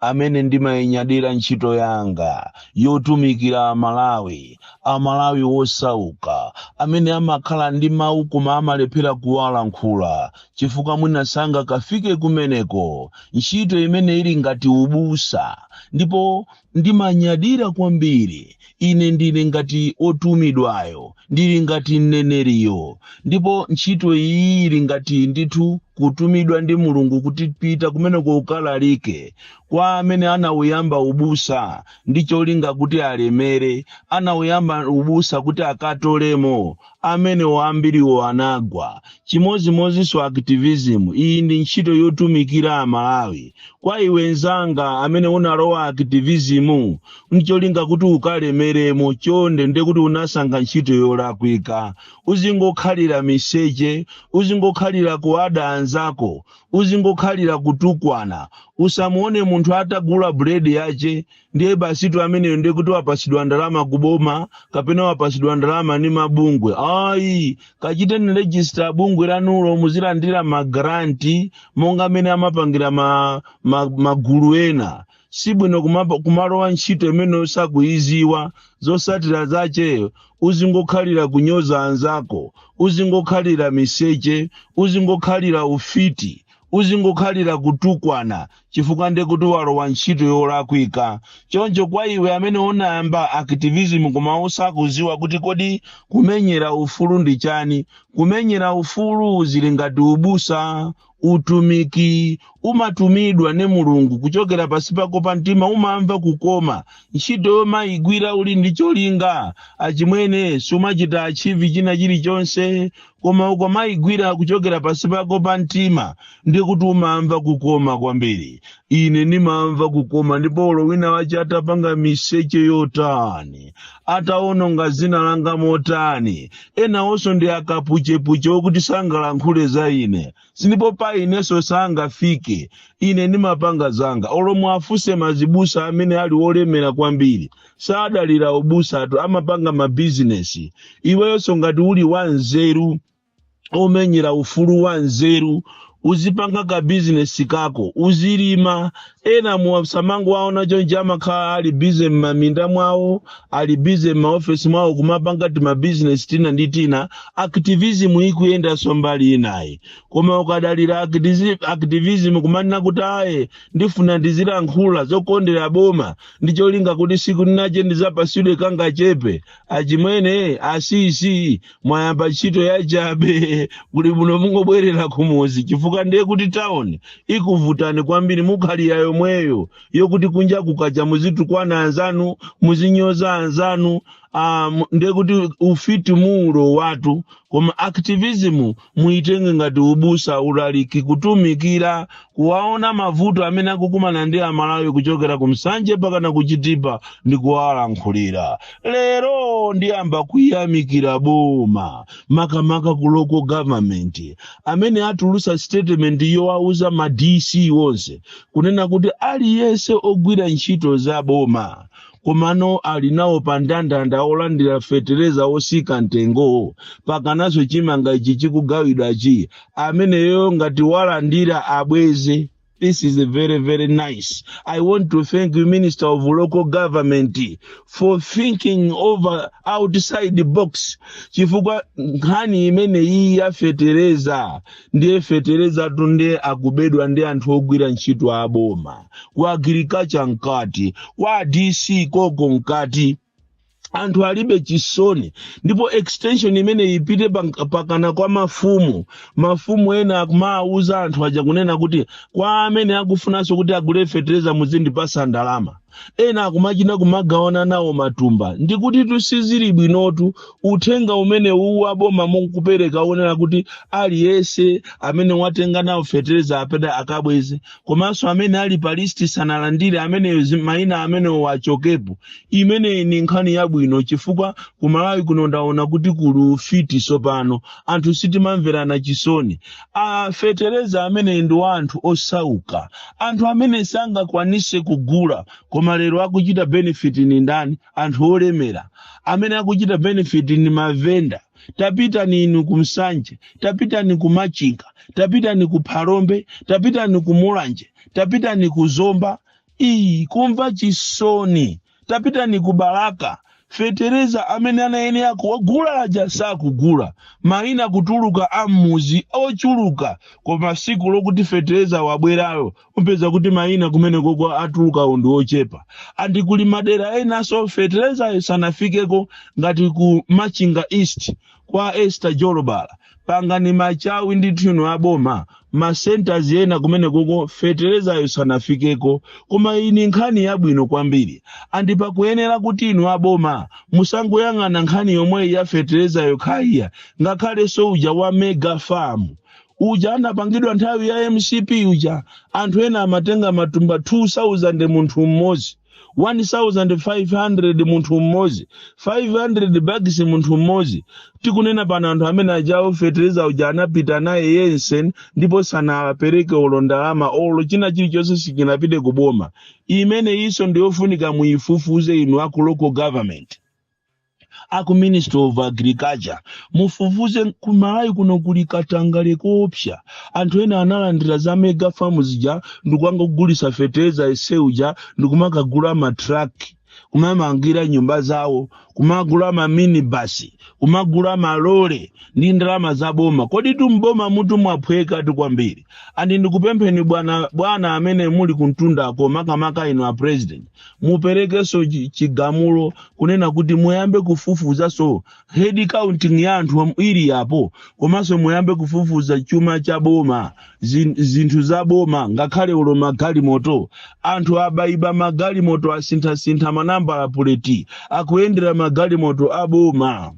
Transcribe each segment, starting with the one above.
amene ndimayinyadira ntchito yanga yotumikira Amalawi, Amalawi wosauka amene amakhala ndi mawu koma amalephera kuwalankhula chifukwa mwina sangakafike kumeneko, ntchito imene ili ngati ubusa, ndipo ndimanyadira kwambiri Ine ndili ngati wotumidwayo, ndili ngati mneneriyo, ndipo ntchito iyi ili ngati ndithu kutumidwa ndi Mulungu kuti pita kumeneko ukalalike kwa amene anauyamba ubusa ndi cholinga kuti alemere, anauyamba ubusa kuti akatolemo, amene ambiriwo anagwa chimozimozinso activism iyi ndi ntchito yotumikira amalawi kwa iwe nzanga amene unalowa activism ncholinga kuti ukalemeremo chonde nde kuti unasankha ntchito yolakwika uzingokhalira miseche uzingokhalira kuada anzako uzingokhalira kutukwana usamuone munthu atagula buledi yache ndiye basitu ameneyo ndiye kuti wapasidwa ndalama ku boma kapena wapasidwa ndalama ni mabungwe ayi kachiteni rejista bungwe lanulo muzilandira magranti monga mmene amapangira magulu ena sibwino kumalowa ntchito imene usakuyiziwa zosatira zache uzingokhalira kunyoza anzako uzingokhalira miseche uzingokhalira ufiti uzingokhalira kutukwana chifukwa nde kuti walowa ntchito yolakwika choncho kwa iwe amene unayamba activism koma usakuziwa kuti kodi kumenyera ufulu ndi chani kumenyera ufulu zili ngati ubusa utumiki umatumidwa ni mulungu kuchokera pasi pako pa mtima umamva kukoma ntchito ukamayigwira uli ndi cholinga achimwene sumachita achieve china chilichonse koma ukamaigwira kuchokera pasi pako pa mtima ndiye kuti umamva kukoma kwambiri ine ndimamva kukoma ndipo olo wina wache atapanga miseche yotani ataononga zina langa motani enawonso ndi akapuchepuche okuti sangalankhule za ine ndipo pa ineso sangafike ine nimapanga zanga olo muafuse mazibusa amene ali olemera kwambiri sadalira ubusatu amapanga mabizinesi iweyonso ngati uli wanzeru omenyera ufulu wa nzeru uzipanga ka bizinesi kako uzilima ena musamangowaona chonje amakhala ali busy m'maminda mwawo ali busy m'maofesi mwawo kumapanga timabizinesi tina ndi tina activism ikuyendanso mbali inayi koma ukadalira activism kumanena kuti aye ndifuna ndizilankhula zokondera boma ndi cholinga kuti siku linache ndizapasidwe kangachepe achimwene asisi mwayamba ntchito yachabe kuli bwino mungobwerera kumudzi chifukwa ndiye kuti tawuni ikuvutani kwambiri mukhalira yomweyo yokuti kunja kukacha muzitukwana anzanu muzinyoza anzanu um, ndiye kuti ufiti muli nawotu koma activism muitenge ngati ubusa ulaliki kutumikira kuwaona mavuto amene akukumana ndi amalawi kuchokera ku Nsanje mpakana ku Chitipa ndi kuwalankhulira lero ndiyamba kuyamikira boma makamaka ku local government amene atulusa statement yowauza ma dc onse kunena kuti aliyense ogwira ntchito za boma komano ali nawo pa ndandanda olandira fetereza otsika mtengowo mpakananso chimanga ichi chikugawidwachi ameneyo ngati walandira abweze This is very, very nice. I want to thank you, Minister of Local Government, for thinking over outside the box. Chifukwa nkhani imene iyi yafetereza ndiye feterezatu ndiye akubedwa ndi anthu ogwira ntchito aboma ku agirikacha mkati kwa dc koko mkati anthu alibe chisoni ndipo extension imene ipite pank- mpakana kwa mafumu mafumu ena akumawuza anthu aja kunena kuti kwa amene akufunanso kuti agule fetereza muzindipatsa ndalama ena akumachita kumagawana nawo matumba ndikuti tutsizileni bwinotu uthenga umene uwu aboma mukupereka onena kuti aliyense amene watenga nawo fetereza apite akabweze komanso amene ali pa listi sanalandire ameneyo zi- maina amenewo achokepo imeneyi ni nkhani yabwino chifukwa kumalawi kuno ndaona kuti kuli ufiti tsopano anthu sitimamverana chisoni a fetereza amene ndi wa anthu osauka anthu amene sangakwanise kugula koma lero akuchita benefit ni ndani anthu olemera amene akuchita benefit ni mavenda tapitani inu ku Nsanje tapitani ku machinga tapitani ku phalombe tapitani ku mulanje tapitani ku zomba iyi kumva chisoni tapitani ku balaka fetereza amene anayenera kuwagula aja sakugula mayina kutuluka a m'mudzi ochuluka koma tsiku lokuti fetereza wabwerayo upeza kuti mayina kumene koko atulukawo ndi ochepa andi kuli madera enanso feterezayo sanafikeko ngati ku machinga east kwa esther jolobala pangani machawi ndithu inu a boma ma centers ena kumene koko feterezayo sanafikeko koma iyi ni nkhani yabwino kwambiri andi pakuyenera kuti inu aboma musangoyang'ana nkhani yomweyi ya fetereza yokha iyayi ngakhalenso uja wa mega farm uja anapangidwa nthawi ya mcp uja anthu ena amatenga matumba 2000 munthu mmodzi 1500 munthu mmodzi 500 bags munthu mmodzi tikunena pano anthu amene ajawo fetereza uja anapita naye yense ndipo sanapereke olo ndalama olo china chilichonse sichinapite ku boma imeneyinso ndiyofunika muyifufuze inu aku local government aku ministry of agriculture mufufuze ku malawi kuno kuli katangale koopsa anthu ena analandira za mega farm zija ndikukangougulisa fertilizer yense uja ndikumakagula matruck kumamangira nyumba zawo kumagula maminibasi kumagula malole ndi ndalama za boma kodi m'boma umutu mwaphwekatu kwambiri andi ndikupempheni bwana bwana amene muli kumtundako makamaka inu a president muperekenso chi- chigamulo kunena kuti muyambe kufufuzanso head counting ya anthu am- ili apo komanso muyambe kufufuza chuma cha boma zin- zinthu za boma ngakhale ulo magalimoto anthu aba iba magalimoto asinthasintha manambala puleti akuyendera magalimoto a boma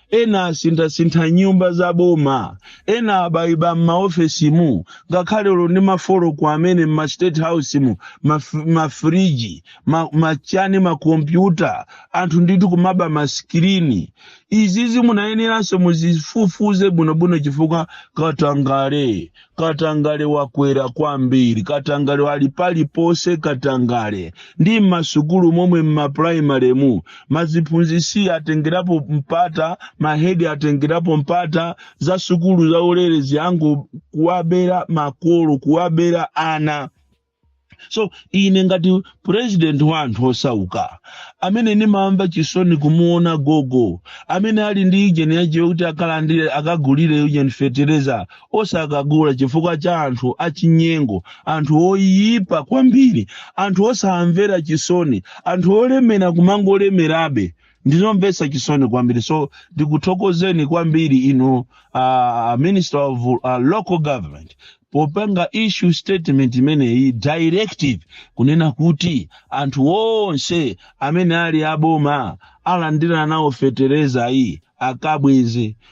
ena asinthasintha nyumba za boma ena aba iba m'maofesimu ngakhale ulo ndi mafoloko amene m'ma state house mu maf- mafriji ma- machani makompyuta anthu ndithu kumaba masikirini izizi munayeneranso muzifufuze bwinobwino chifukwa katangale Katangale wakwera kwambiri, katangale ali paliponse, katangale ndi m'masukulu momwe m'mapuraimaremu maziphunzisi atengerapo mpata, mahedi atengerapo mpata za sukulu zaulere zija ngo kuwabera makolo, kuwabera ana. so ine ngati president wa anthu osauka amene ndimamva chisoni kumuona gogo amene ali ndi ujeni yache kuti akalandire akagulire ujeni fetereza osakagula chifukwa cha anthu achinyengo anthu oyipa kwambiri anthu osamvera chisoni anthu olemera kumangolemerabe ndizomvetsa chisoni kwambiri so ndikuthokozeni kwambiri inu uh, minister of uh, local government popanga issue statement imeneyi directive kunena kuti anthu onse amene ali aboma alandira nawo fetereza iyi akabweze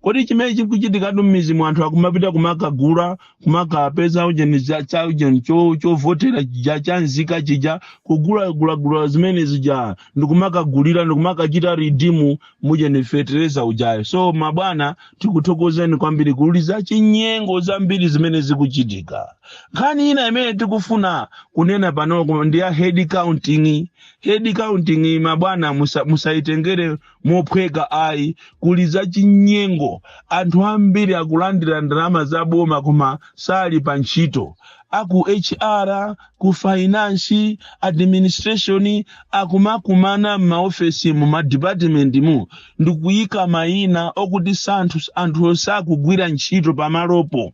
kodi chimene chikuchitikatu m'mizimu anthu akumapita kumakagula kumakapeza ujeni za- cha ujeni cho- chovotera chija cha nzika chija kugulagulagula zimene zija ndikumakagulira ndikumakachita ridimu ujeni fetereza ujayo so mabwana tikuthokozeni kwambiri kuli za chinyengo zambiri zimene zikuchitika nkhani ina imene tikufuna kunena pano ndi ya head counting head counting mabwana musa- musayitengere mophweka ayi kuli zachinyengo anthu ambiri akulandira ndalama za boma koma sali pa ntchito aku hr ku fainansi administration akumakumana m'maofesi mu madipatimenti mu ndikuyika mayina okuti anthu anthu osakugwira ntchito pamalopo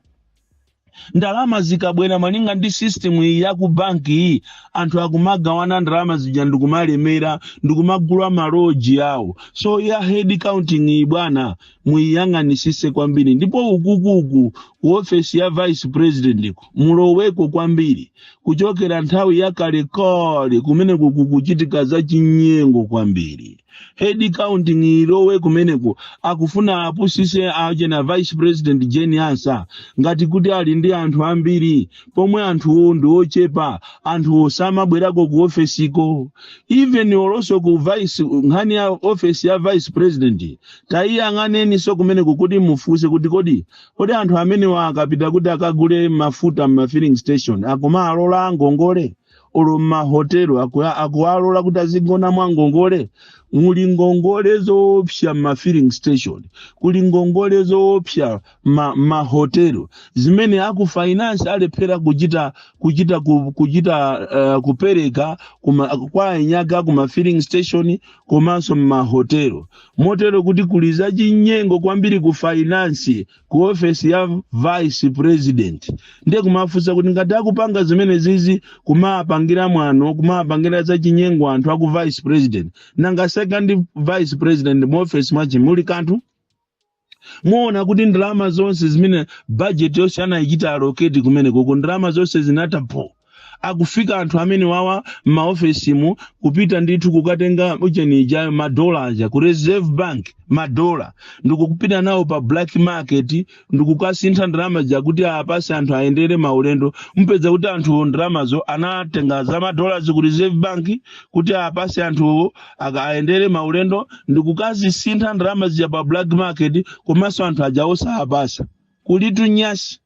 ndalama zikabwera malinga ndi system iyi ya ku banki iyi anthu akumagawana ndalama zija ndikumalemera ndikumagula maloji awo so ya head counting iyi bwana muyiyang'anisise kwambiri ndipo ukukuku ku ofesi ya vice president muloweko kwambiri kuchokera nthawi ya kalekale kumene kukuchitika za chinyengo kwambiri head counting ilowe kumeneko akufuna apusise aje na vice president jeni ansa ngati kuti ali ndi anthu ambiri pomwe anthuwo ndi ochepa anthuwo osamabwerako ku ofesiko even olonso ku vice nkhani ya ofesi ya vice president tayiyang'aneninso kumeneko kuti mufunse kuti kodi kodi anthu amenewa akapita kuti akagule mafuta m'ma filling station akumawalola ngongole olo mmahotelo akuwa- akuwalola kuti azigona mwa ngongole muli ngongole zoopsa mma filling station kuli ngongole zoopsa mmahotelo zimene aku finance alephera kuchita kuchita ku- kuchita uh, kupereka kuma, kwa enyake kuma filling station komanso mmahotelo motero kuti kuli zachinyengo kwambiri ku finance ku ofesi ya vice president ndiye kumafunsa kuti ngati akupanga zimenezizi kumapangira mwano kumapangira zachinyengo anthu aku vice president nanga second vice president mu ofesi mwachi muli kanthu muona kuti ndalama zonse zimene bajeti yonse anayichita aloketi kumenekoko ndalama zonse zinathapo akufika anthu amenewawa m'maofesimu kupita ndithu kukatenga uchenija madola aja ku reserve bank madola ndikupita nawo pa black market ndikukasintha ndalama zija kuti awapase anthu ayendere maulendo mupeza kuti anthuwo ndalamazo anatenga za madolazi ku reserve bank kuti awapase anthuwo aka- ayendere maulendo ndikukazisintha ndalama zija pa black market komanso anthu aja osawapasa kulitu nyasi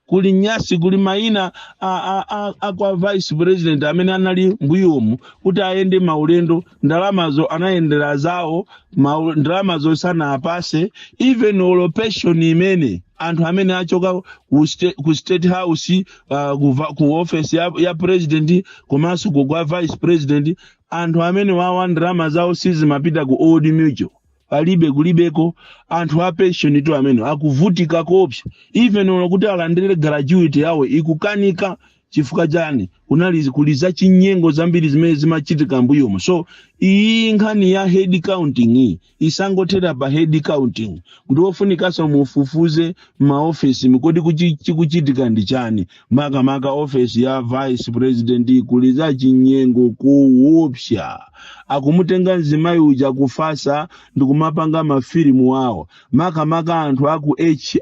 kuli nyasi kuli maina a, a, a, a kwa vice president amene anali mbuyomu kuti ayende maulendo ndalamazo anayendera zawo mau- ndalamazo sanawapase even olo pension imene anthu amene achoka ku sta- ku state house uh, ku, va- ku office ya, ya president komanso ku kwa vice president anthu amenewawa ndalama zawo sizimapita ku old mutual alibe kulibeko anthu a pension tu amene akuvutika koopsa even olo kuti alandire gratuity yawo ikukanika chifukwa chani kunali kuli za chinyengo zambiri zimene zimachitika mbuyomo so iyi nkhani ya head counting iyi isangothera pa head counting kukufunikanso mufufuze maofesi nkodi kuchi- chikuchitika ndi chani makamaka ofesi ya vice president kuli za chinyengo koopsa akumutenga mzimayi uja kufatsa ndikumapanga mafilimu awo makamaka anthu aku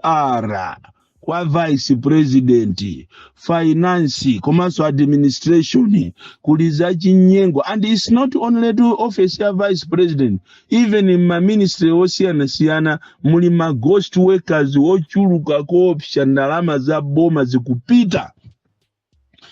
hr kwa vice president finance komanso administration kuli za chinyengo and its not only to office ya vice president Even mma ministry osiyanasiyana muli ma ghost workers ochuluka koopsa ndalama za boma zikupita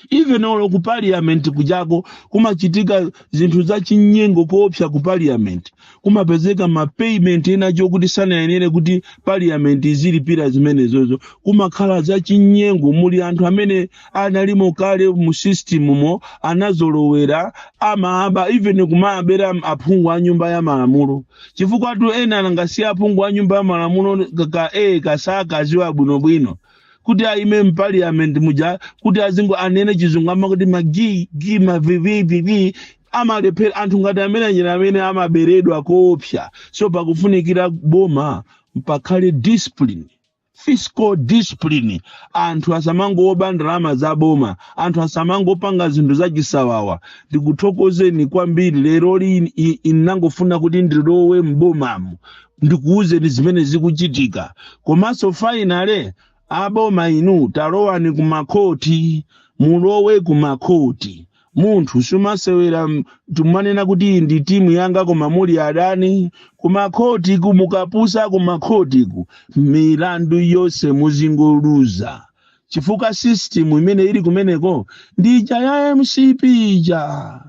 even olo ku parliament kujako kumachitika zinthu za chinyengo koopsa ku parliament kumapezeka ma payment ena oti sanayenere kuti parliament izilipira zimenezozo kumakhala za chinyengo muli anthu amene analimo kale mu system mo anazolowera amaba even kumabera aphungu a nyumba ya malamulo chifukwatu ena anangotsiya aphungu a nyumba ya malamulo ka- ka e samaziwa bwinobwino kuti aime mpaliyamenti muja kuti azingo ayankhule chizungu amakuti magi gi mavivivivi amalephera anthu ngati amene anyera amene amaberedwa koopsa so pakufunikira boma pakhale discipline fiscal discipline anthu asamangoba ndalama za boma anthu asamangopanga zinthu zachisawawa ndikuthokozeni kwambiri lero lini i- inangofuna kuti ndilowe m'bomamu ndikuwuzeni zimene zikuchitika komanso finally aboma inu talowani kumakhoti mulowe kumakhoti Munthu sumasewera nkumanena kuti iyi ndi timu yanga koma muli adani kumakhotiku mukapusa kumakhotiku milandu yonse muzingoluza chifukwa system imene ili kumeneko ndi ija ya mcp ija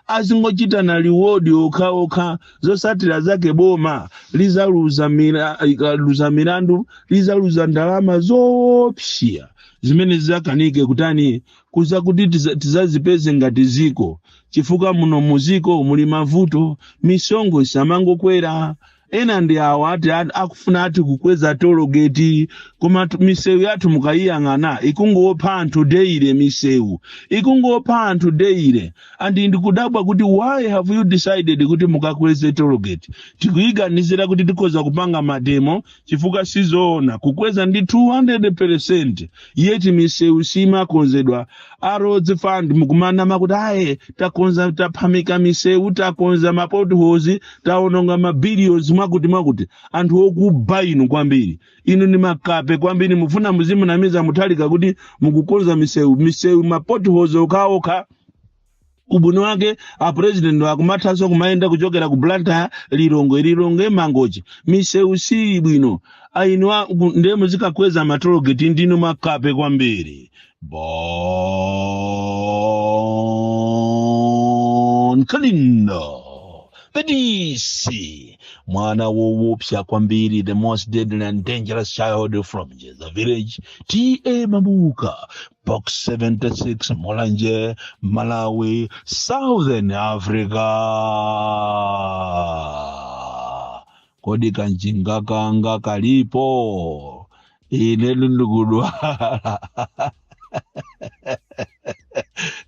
azingochitana liwodi okhaokha zosatira zake boma lizaluza mira- ikaluza milandu lizaluza ndalama zoopsya zimene zidzakanike kutani kuza kuti tiza- tizazipeze ngati ziko chifukwa muno muziko muli mavuto misonkho isamangokwera ena ndi awa ati a- akufuna ati kukweza tologeti koma tu- misewu yathu mukayiyang'ana ikungopha anthu daily misewu ikungopha anthu daily and ndikudabwa kuti why have you decided kuti mukakweze tologeti tikuyiganizira kuti tikhoza kupanga mademo chifukwa sizoona kukweza ndi 200% yeti misewu simakonzedwa a roads fund mukumanena kuti aye takonza taphamika misewu takonza mapotholes taononga mabilions mwakuti mwakuti anthu okuba inu kwambiri inu ni makape kwambiri mufuna muzimunamiza mtundu uka kuti mukukonza misewu misewu mapotholes okhaokha ubwino wake apurezidenti akumathanso kumayenda kuchokera ku blantyre lilongwe lilongwe mangochi misewu siili bwino ayi inu ndiye muzikakweza matologeti ndinu makape kwambiri bon kalindo the DC mwana woopsa kwambiri the most deadly and dangerous child from the village T.A. Mabuka box 76 mulanje malawi southern africa kodi kanjinga kanga kalipo ine ndikudwala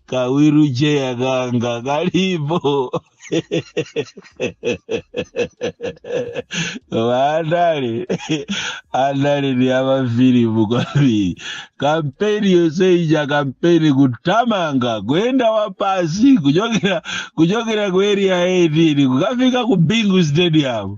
kawiru cheya kanga kalipo koma andale andale ndi amafilimu kwambiri kampeni yonse ija kampeni kutamanga kuyenda wapansi kuchokera kuchokera ku area 18 kukafika ku bingu stadium